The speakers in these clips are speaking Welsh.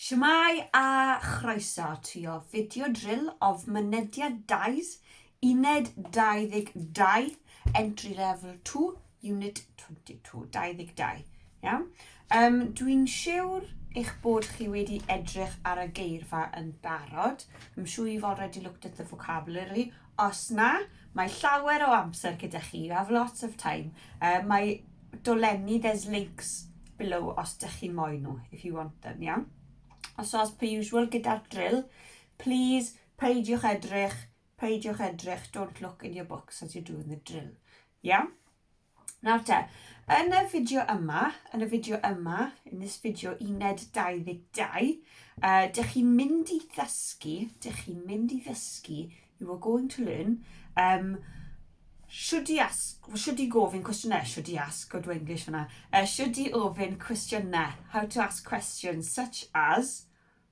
Shwmae a chroeso ti o fideo drill of mynediad dais uned 22 entry level 2 unit 22 22 iawn um, dwi'n siwr eich bod chi wedi edrych ar y geirfa yn barod. I'm sure you've already looked at the vocabulary Os na, mae llawer o amser gyda chi, you have lots of time. Uh, mae dolenni, there's links below os dych chi'n moyn nhw, if you want them, iawn? Os oes per usual gyda'r drill, please peidiwch edrych, peidiwch edrych, don't look in your books as you're doing the drill. Iawn? Nawr te, yn y fideo yma, yn y fideo yma, in this video uned 22, uh, dych chi'n mynd i ddysgu, dych chi'n mynd i ddysgu, you are going to learn, um, should i ask, should i gofyn cwestiynau, should i ask, good English fyna, uh, should i ofyn cwestiynau, how to ask questions such as,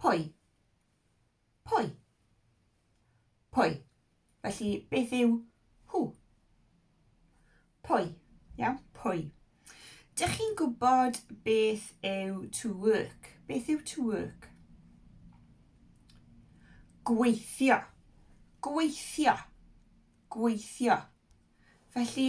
Pwy? Pwy? Pwy? Felly, beth yw who? Pwy? Iawn, pwy? Dych chi'n gwybod beth yw to work? Beth yw to work? Gweithio. Gweithio. Gweithio. Felly,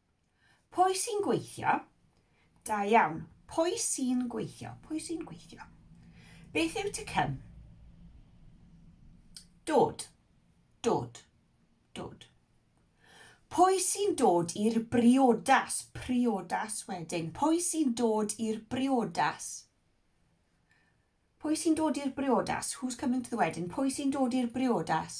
Pwy sy'n gweithio? Da iawn. Pwy sy'n gweithio? Pwy sy'n gweithio? Beth yw to come? Dod. Dod. Dod. Pwy sy'n dod i'r briodas? Priodas wedyn. Pwy sy'n dod i'r briodas? Pwy sy'n dod i'r briodas? Who's coming to the wedding? Pwy sy'n dod i'r briodas?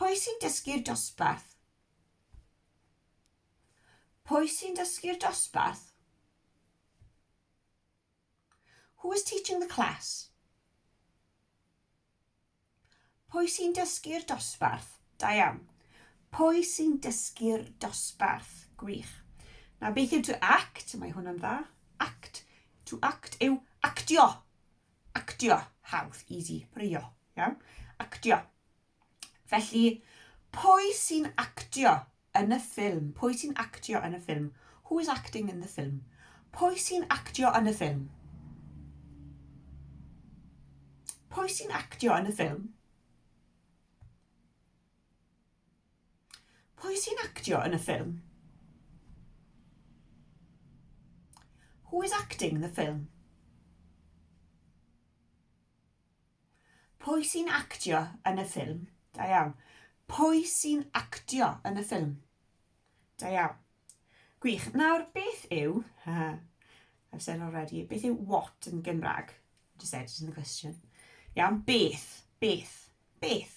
Pwy sy'n dysgu'r dosbarth? Pwy sy'n dysgu'r dosbarth? Who is teaching the class? Pwy sy'n dysgu'r dosbarth? Da iawn. Pwy sy'n dysgu'r dosbarth? Gwych. Na beth yw to act? Mae hwnna'n dda. Act. To act yw actio. Actio, hawdd, easy, rhywio, iawn? Actio. Felly, pwy sy'n actio yn y ffilm? Pwy sy'n actio yn y ffilm? Who is acting in the film? Pwy sy'n actio yn y ffilm? Pwy sy'n actio yn y ffilm? Pwy sy'n actio yn y ffilm? Who is acting the film? Pwy sy'n actio yn y ffilm? Da iawn. Pwy sy'n actio yn y ffilm? Da iawn. Gwych. Nawr, beth yw... I've said already. Beth yw what yn Gymraeg? Just said it in the question. Iawn, beth. Beth. Beth.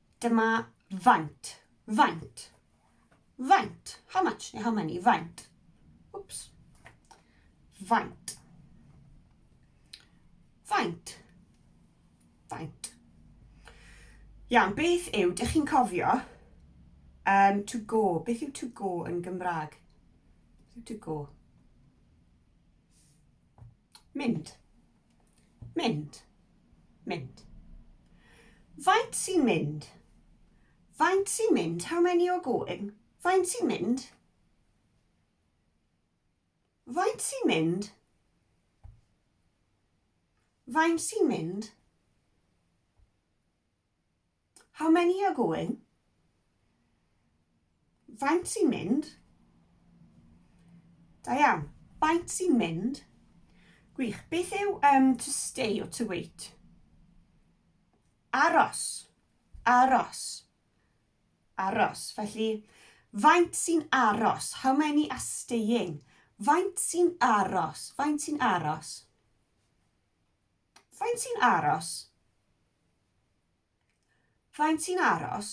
Dyma faint. Faint. Faint. How much neu how many. Faint. Whoops. Faint. Faint. Faint. Iawn, beth yw, dych chi'n cofio, um, to go. Beth yw to go yn Gymraeg? Beth yw to go? Mynd. Mynd. Mynd. Faint sy'n mynd? Faint sy'n mynd? How many are going? Faint sy'n mynd? Faint sy'n mynd? Faint sy'n mynd? How many are going? Faint sy'n mynd? Da iawn. Faint sy'n mynd? Gwych. Beth yw um, to stay or to wait? Aros. Aros. Aros. Felly, faint sy'n aros? How many are staying? Faint sy'n aros? Faint sy'n aros? Faint sy'n aros? Faint sy'n aros?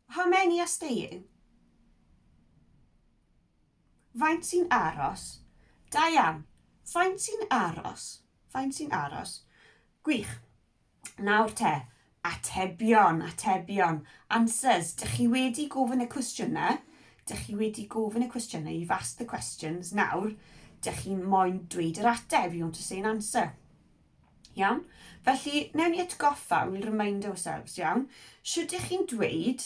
How many are staying? Faint sy'n aros? Da iawn. Faint sy'n aros? Faint sy'n aros? Gwych. Nawr te, atebion, atebion, answers. Dych chi wedi gofyn y cwestiynau, dych chi wedi gofyn y cwestiynau, you've asked the questions, nawr, dych chi'n moyn dweud yr ateb, you want to say an answer. Iawn? Felly, newn ni atgoffa, we'll remind ourselves, iawn? Sut ydych chi'n dweud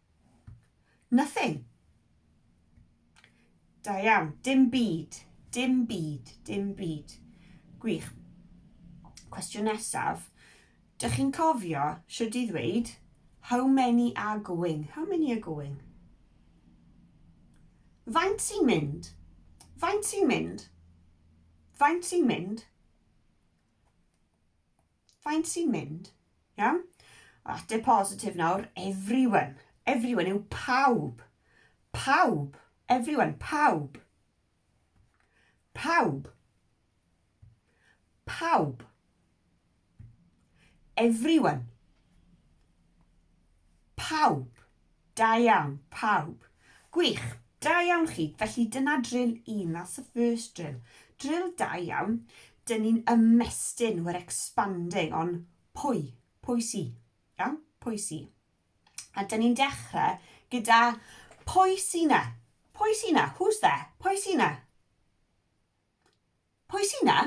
Nothing. Da iawn. Dim byd. Dim byd. Dim byd. Gwych. Cwestiwn nesaf. Dych chi'n cofio should i ddweud how many are going? How many are going? Faint sy'n mynd? Faint sy'n mynd? Faint sy'n mynd? Faint sy'n mynd? Iawn? Ateb positif nawr, everyone. Everyone yw pawb. Pawb. Everyone, pawb. Pawb. Pawb. Everyone. Pawb. Da iawn, pawb. Gwych! Da iawn chi. Felly dyna drill un, that's the first drill. Drill da iawn. Dyn ni'n ymestyn, we're expanding on pwy, pwy si. Iawn? Pwy si. A dyn ni'n dechrau gyda pwy si na? Pwy si na? Who's there? Pwy si na? Pwy si na?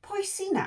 Pwy si na?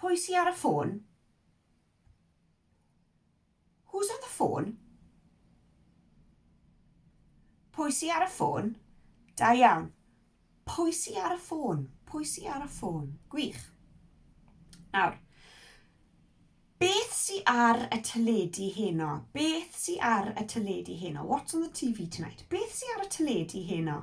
Pwy sy ar y ffôn? Who's on the phone? Pwy sy ar y ffôn? Da iawn. Pwy sy ar y ffôn? Pwy sy ar y ffôn? Gwych. Nawr, beth sy ar y teledu heno? Beth sy ar y teledu heno? What's on the TV tonight? Beth sy ar y teledu heno?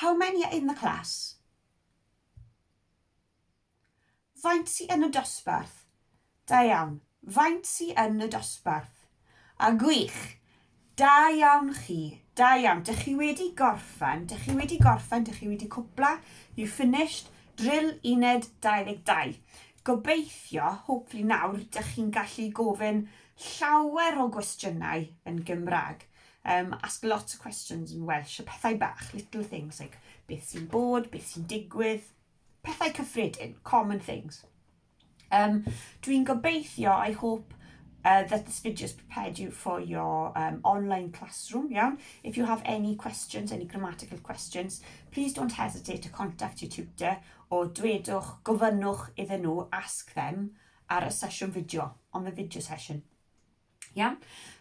How many are in the class? Faint sy yn y dosbarth? Da iawn. Faint sy yn y dosbarth? A gwych! Da iawn chi. Da iawn. Dych chi wedi gorffen. Dych chi wedi gorffen. Dych chi wedi cwpla. You finished. Drill uned 22. Gobeithio, hopefully nawr, dych chi'n gallu gofyn llawer o gwestiynau yn Gymraeg. Um, ask lots of questions in Welsh, y pethau bach, little things, like beth sy'n bod, beth sy'n digwydd, pethau cyffredin, common things. Um, Dwi'n gobeithio, I hope, uh, that this video has prepared you for your um, online classroom, iawn? If you have any questions, any grammatical questions, please don't hesitate to contact your tutor o dwedwch, gofynnwch iddyn nhw, ask them, ar y sesiwn fideo, on the video session. Iawn?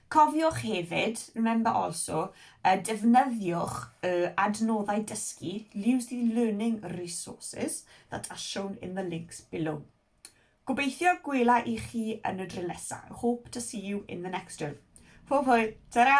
Cofiwch hefyd, remember also, uh, defnyddiwch y uh, adnoddau dysgu, use the learning resources that are shown in the links below. Gobeithio gwela i chi yn y drill nesaf. Hope to see you in the next drill. Hwyl hwyl, ta-ra!